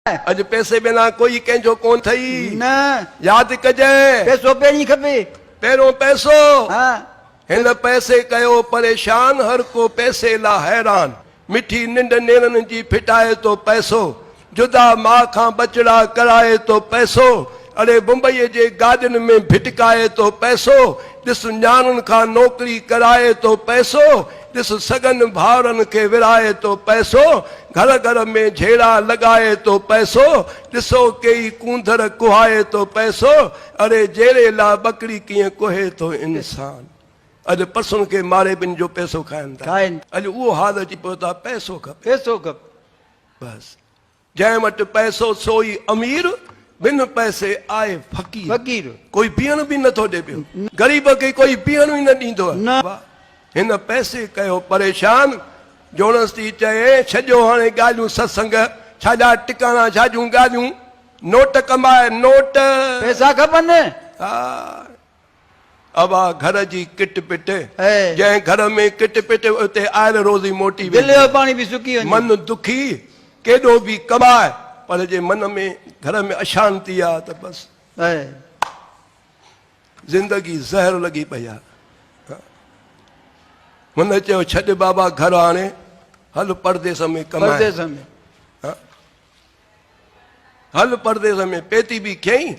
اڄ پئسي بنا ڪوئي ڪنهن جو ڪونه ٿئي. نه. ياد ڪجين. پئسو پهرين کپي. پهريون پئسو. ها. هن پئسي ڪيو پريشان. هر ڪو پئسي لا حيران. مٺي ننڊ نيرن جي ڦٽائي ٿو پئسو. جدا ماء کان ٻچڙا ڪرائي ٿو پئسو. اڙي بمبئيء جي گاڏين ۾ ڀٽڪائي تو پئسو ڏس، نياڻين کان نوڪري ڪرائي تو پئسو ڏس، سڳن ڀائرن کي ورهائي تو پئسو، گهر گهر ۾ جهيڙا لڳائي تو پئسو ڏس، او ڪيئي ڪونڌر ڪهائي تو پئسو، اڙي جهيڙي لا ٻڪري ڪيئن ڪوهي ٿو انسان. اڄ پسن کي ماري ٻن جو پئسو کائن ٿا. اڄ اهو حال اچي پيو ته پئسو کپي. بس. جنهن وٽ پئسو سو ئي امير، بن پئسي آهي فقير. ڪوئي پيئڻ به نٿو ڏي پيو. غريب کي ڪوئي پيئڻ ئي نه ڏيندو آهي. هن پئسي ڪيو پريشان، جوڻس ٿي چئي، ڇڏيو هاڻي ڳالهيون ستسنگ، ڇا جا ٽڪاڻا ڇا جون ڳالهيون، نوٽ ڪماء نوٽ. پئسا کپن. ابا گهر جي ڪٽ پٽ. جنهن گهر ۾ ڪٽ پٽ هئي اتي آئل روزي موٽي ويندي هئي. دل جو پاڻي به سڪي وڃي. من دکي ڪيڏو به ڪٻائي پر جي من ۾ گهر ۾ اشانتي آ ته بس. زندگي زهر لڳي پئي آ. هن چيو ڇڏ بابا گهر هاڻي هل پرديس ۾ ڪمائي. پرديس ۾. هل پرديس ۾ پيتي به کيئي.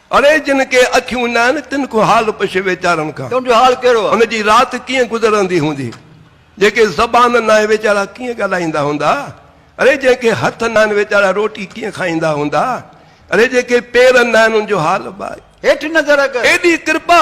اڙي جن کي اکيون ناهن تن کون حال پڇ ويچارن کان. تن جو حال ڪهڙو آ؟ ان جي رات ڪيئن گذرندي هوندي؟ جيڪي زبان ناهي ويچارا ڪيئن ڳالهائيندا هوندا؟ اڙي جنهن کي هٿ ناهن ويچارا روٽي ڪيئن کائيندا هوندا؟ اڙي جيڪي پير ناهن ان جو حال ٻاهي. هيٺ نظر ڪر. ايڏي ڪرپا!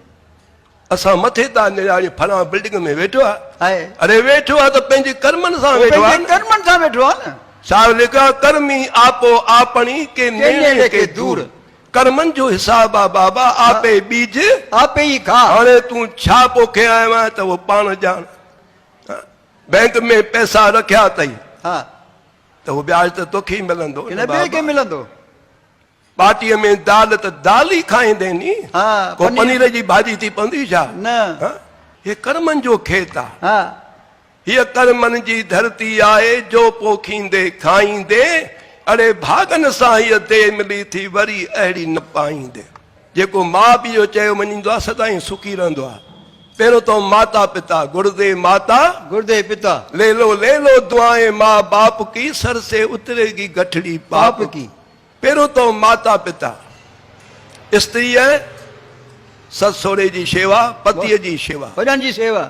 اسان مٿي تان نهاريون فلان بلڊنگ ۾ ويٺو آهي اڙي ويٺو آهي ته پنهنجي ڪرمن سان ويٺو آهي نه ڪرمن سان ويٺو آهي نه شاعر لکيو آهي ڪرمي آپو آپڻي ڪي نيڻي ڪي دور ڪرمن جو حساب آهي بابا آپي ٻيج آپي ئي کا هاڻي تون ڇا پوکي آيو آهين ته اهو پاڻ ڄاڻ بئنڪ ۾ پئسا رکيا اٿئي ها ته اهو وياج ته توکي ئي ملندو نه ٻئي کي ملندو ٻاٽيء ۾ دال ته دال ئي کائيندين ني. ڪو پنير جي ڀاڄي ٿي پوندي ڇا؟ هي ڪرمن جو کيت آ. هيء ڪرمن جي ڌرتي آهي، جو پوکيندي کائيندي، اڙي ڀاڳن سان هيء ديء ملي ٿي وري اهڙي نه پائيندي. جيڪو ماء پيء جو چيو مڃيندو آ، سدائين سکي رهندو آ. پهريون تو ماتا پتا، گڙدي ماتا، گڙدي پتا. ليلو ليلو دعائين ماء باپ ڪي، سر سي اتريگي گٺڙي پاپ ڪي. پهريون تو ماتا پتا، استري ۽ سس سهري جي شيوا، پتيء جي شيوا. وڏن جي شيوا.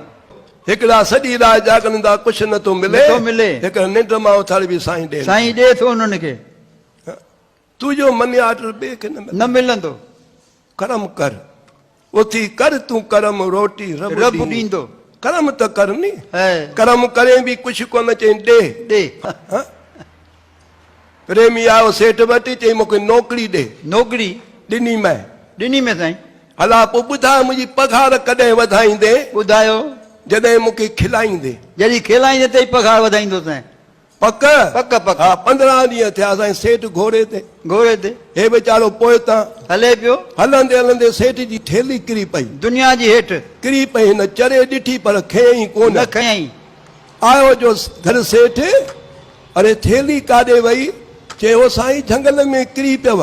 هڪڙا سڄي رات جاڳندا ڪجهه نه ٿو ملي. نٿو ملي. هڪڙا ننڊ مان اٿاري به سائين ڏين ٿو. سائين ڏي ٿو انهن کي. تنهنجو منيا اٽل ٻئي کي نه ملندو. نه ملندو. ڪرم ڪر اٿي ڪر تون ڪرم روٽي رب ڏيندو. ڪرم ته ڪر ني. ڪرم ڪرين به ڪڇ ڪونه چئين ڏي. ڏي. پريمي آيو سيٺ وٽ چئين مون کي نوڪري ڏي. نوڪري. ڏني مئن. ڏني مئن سائين. هلا پوء ٻڌاء منهنجي پگهار ڪڏهن وڌائيندين. ٻڌايو. جڏهن مون کي کلائيندين. جڏهن کلائيندين ته ئي پگهار وڌائيندوسين. پڪ؟ پڪ پڪ. ها، پندرهن ڏينهن ٿيا سائين سيٺ گهوڙي تي. گهوڙي تي. هي ويچارو پوئتان. هلي پيو. هلندي هلندي سيٺ جي ٿيلهي ڪري پئي. دنيا جي هيٺ. ڪري پئي. هن چري ڏٺي پر کنيائين ڪونه. نه کنيائين. آيو جو گهر سيٺ، اڙي ٿيلهي ڪاڏي وئي؟ چي او سائين جهنگل ۾ ڪري پيو.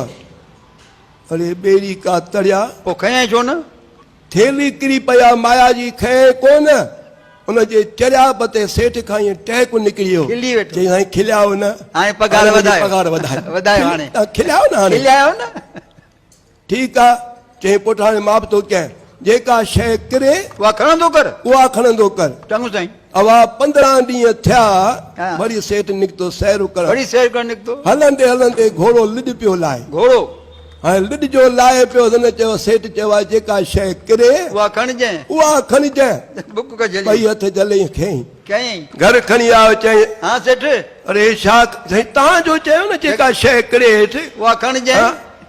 اڙي ٻيڙي ڪا تڙيا. پوء کنيائين ڇو نه؟ ٿيلهي ڪري پيا مايا جي کئي ڪونه ان جي چرياب تي سيٺ کان ائين ٽهڪ نڪري ويو چيائين سائين کليائو نه هاڻي پگهار وڌايو کليائو نه هاڻي ٺيڪ آ چيائين پٽ هاڻي مان به توکي جيڪا شيء ڪري اها کڻندو ڪر اها کڻندو ڪر چڱو سائين. اوا پندرهن ڏينهن ٿيا، وري سيٺ نڪتو سير ڪرڻ. هلندي هلندي گهوڙو لڏ پيو لاهي. هاڻي لڏ جو لاهي پيو هلندي چيو، سيٺ چيو آهي جيڪا شيء ڪري، اها کڻجانء. ٻئي هٿ جهليائين کنئين. گهر کڻي آيو چيائين، اڙي هي ڇا؟ سائين توهان جو چيو نه جيڪا شيء ڪري هيٺ، اها کڻجانء.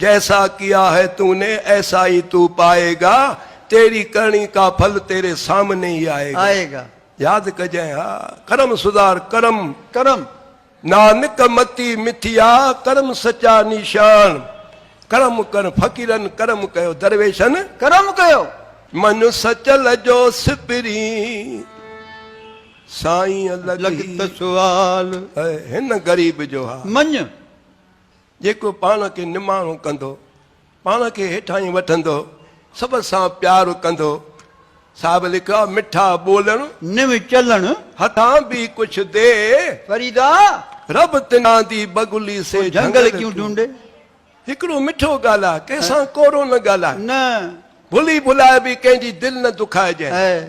جيسا ڪيا هي تو ني ايسا هي تو پائي گا، تيري ڪرڻي ڪا ڦل تيري سامني هي آئي گا. آئي گا. ياد ڪجين ها ڪرم سڌار ڪرم. ڪرم. نانڪ متي مٿيا ڪرم سچا نيشان. ڪرم ڪر فقيرن ڪرم ڪيو درويشن. ڪرم ڪيو. من سچل جو سپرين سائين لڳ. لڳ ته سوال. هن غريب جو ها. مڃ. جيڪو پاڻ کي نماڻو ڪندو، پاڻ کي هيٺاهين وٺندو، سڀ سان پيار ڪندو. صاحب لکيو آهي، مٺا ٻولڻ. نيو چلڻ. هٿان به ڪجهه ڏي. فريدا! رب تنان دي بگلي سي جهنگل ڪيون ڍونڍي. هڪڙو مٺو ڳالهاء، ڪنهن سان ڪورو نه ڳالهاء. نه. ڀلي ڀلائي به ڪنهن جي دل نه دکائجئه. اي.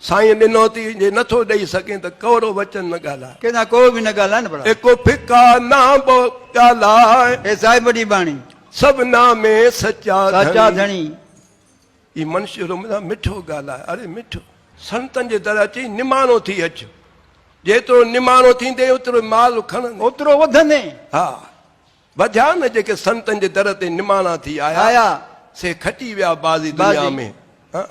سائين ڏنوتي جي نٿو ڏئي سگهين ته ڪؤڙو وچن نه ڳالهاء. ڪنهن سان ڪوڙ به نه ڳالهاء نه ڀلا. ايڪو ڦڪا نه به ڳالهاء. اي صاحب وڏي ٻانهي. سڀنا ۾ سچا ڌڻي. سچا ڌڻي. اي منشي روملا مٺو ڳالهاء. اڙي مٺو. سنتن جي در اچي نماڻو ٿي اچ. جيترو نماڻو ٿيندين اوترو مال کڻندين. اوترو وڌندين. ها. وڌيا نه جيڪي سنتن جي در تي نماڻا ٿي آيا. آيا. سي کٽي ويا بازي دنيا ۾. بازي.